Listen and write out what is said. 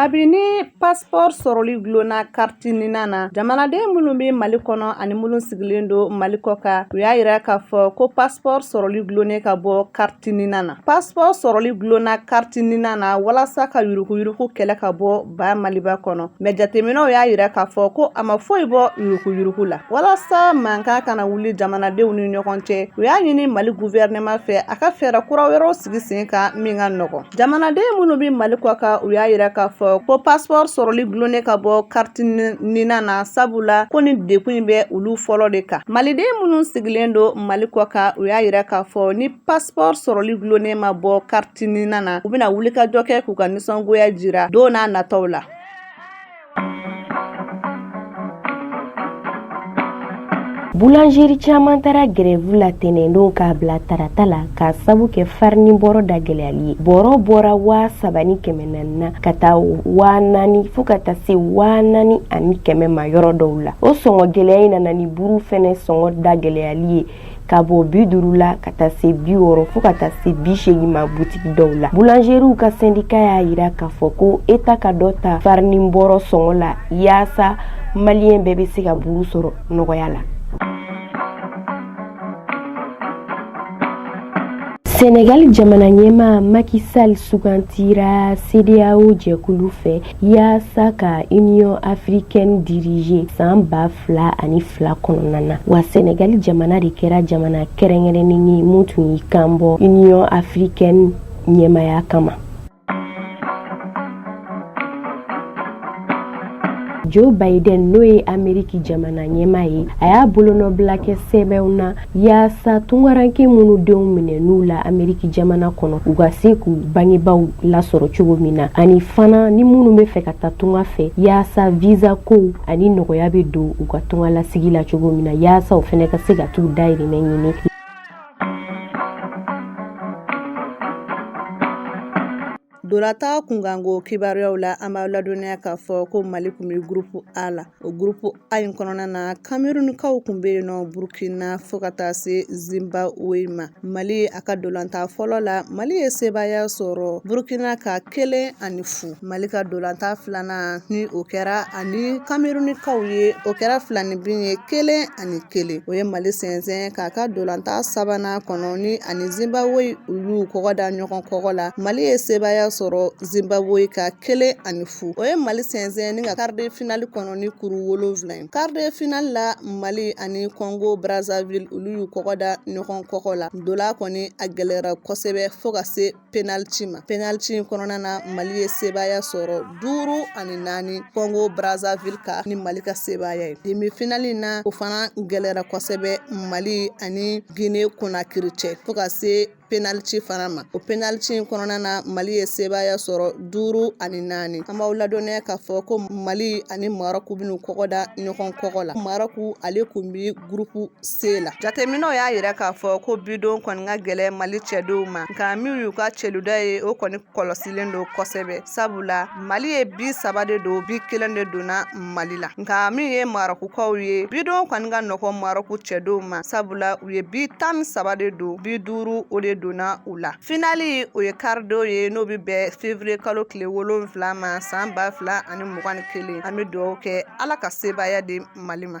kabini passeport sɔrɔli dulonna kariti NINA na jamanaden minnu bɛ mali kɔnɔ ani minnu sigilen don mali kɔ kan u y'a yira k'a fɔ ko passeport sɔrɔli dulonnen ka bɔ kari Ti NINA na passeport sɔrɔli dulonna kariti NINA na walasa ka yuruguyurugu kɛlɛ ka bɔ ba maliba kɔnɔ mais jateminɛw y'a yira k'a fɔ ko a ma foyi bɔ yuruguyurugu la walasa mankan kana wuli jamanadenw ni ɲɔgɔn cɛ u y'a ɲini mali gouvernement fɛ a ka fɛɛrɛ kura wɛrɛw sigi sen kan min ka nɔgɔn jamanaden minnu bɛ mali kɔ kan u y'a yira k'a fɔ ko passeport sɔrɔli dulonnen ka bɔ kariti NINA na sabu la ko nin degun in bɛ olu fɔlɔ de kan maliden minnu sigilen don mali kɔ kan u y'a yira k'a fɔ ni passeport sɔrɔli dulonnen ma bɔ kariti NINA na u bɛna wulikajɔ kɛ k'u ka nisɔngoya jira don n'a natɔw la Boulangerie caman taara grève la tɛnɛndon k'a bila tarata la k'a sabu kɛ farini bɔrɔ da gɛlɛyali ye. Bɔrɔ bɔra 3000 ni 400 na ka taa 4000 fo ka taa se 4000 ani 100 ma yɔrɔ dɔw la. O sɔngɔ gɛlɛya in nana ni buuru fɛnɛ sɔngɔ da gɛlɛyali ye. ka bɔ bi duuru la ka taa se bi wɔɔrɔ fo ka taa se bi seegin ma butigi dɔw la boulangeriw ka sendika y'a yira k'a fɔ ko eta ka dɔ ta farini bɔrɔ sɔngɔ la yaasa maliyɛn bɛɛ bɛ se ka buru sɔrɔ nɔgɔya la Senegal jamana ɲɛmaa Macky Sall sugantira CEDEAO jɛkulu fɛ yaasa ka Union africaine diriger san ba fila ani fila kɔnɔna na wa sɛnɛgali jamana de kɛra jamana kɛrɛnkɛrɛnnen ye mun tun y'i kanbɔ union africaine ɲɛmaaya kama joe biden n'o ye ameriki jamana ɲɛmaa ye a y'a bolonɔbila kɛ sɛbɛnw na Yaasa tungarankɛ minnu denw minɛn'u la ameriki jamana kɔnɔ u ka se k'u bangebaw lasɔrɔ cogo min na ani fana ni minnu bɛ fɛ ka taa tunga fɛ yaasa visa ko ani nɔgɔya bɛ don u ka tungalasigi la cogo min na yaasa u fana ka se ka t'u dahirimɛ ɲini Ntolatan kunkanko kibaruyaw la an b'a ladɔnniya k'a fɔ ko mali kun bɛ gurupu a la o gurupu a in kɔnɔna na kamerunikaw kun bɛ yen nɔ burukina fo ka taa se zimbabwe ma mali a ka ntolatan fɔlɔ la mali ye sebaaya sɔrɔ burukina kan kelen ani fu mali ka ntolatan filanan ni o kɛra ani kamerunikaw ye o kɛra filaninbin ye kelen ani kelen o ye mali sɛnsɛn k'a ka dolanta sabanan kɔnɔ ni ani zimbabwe olu kɔgɔ da ɲɔgɔn kɔgɔ la mali ye sebaaya sɔrɔ zimbabwe kan kelen ani fu o ye mali sɛnsɛn ni ka karide finali kɔnɔ ni kuru wolonfila ye karide finali la mali ani kɔngo brazzaville olu y'u kɔgɔ da ɲɔgɔn kɔgɔ la dola kɔni a gɛlɛyara kosɛbɛ fo ka se penaliti ma penaliti in kɔnɔna na mali ye sebaaya sɔrɔ duuru ani naani kɔngo brazzaville kan ni mali ka sebaaya ye demi finali na o fana gɛlɛra kosɛbɛ mali ani gine konakiri cɛ fo ka se penaliti fana ma o penaliti in kɔnɔna na mali ye sebaaya sɔrɔ duuru ani naani an b'aw ladɔnniya k'a fɔ ko mali ani marɔku bɛn'u kɔgɔ da ɲɔgɔn kɔgɔ la marɔku ale kun bi gurupu se la jateminɛw y'a yira k'a fɔ ko bidon kɔni ka gɛlɛn mali cɛdenw ma nka min y'u ka celuda ye o kɔni kɔlɔsilen don kosɛbɛ sabula mali ye bi saba de don bi kelen de donna mali la nka min ye marɔkukaw ye bidon kɔni ka nɔgɔ marɔku cɛdenw ma sabula u ye bi tan ni saba de don bi duuru o de donna u la finali o ye karidon ye n'o bɛ bɛn fevriye kalo tile wolonfila ma san ba fila ani mugan ni kelen an bɛ dugawu kɛ ala ka sebaaya di mali ma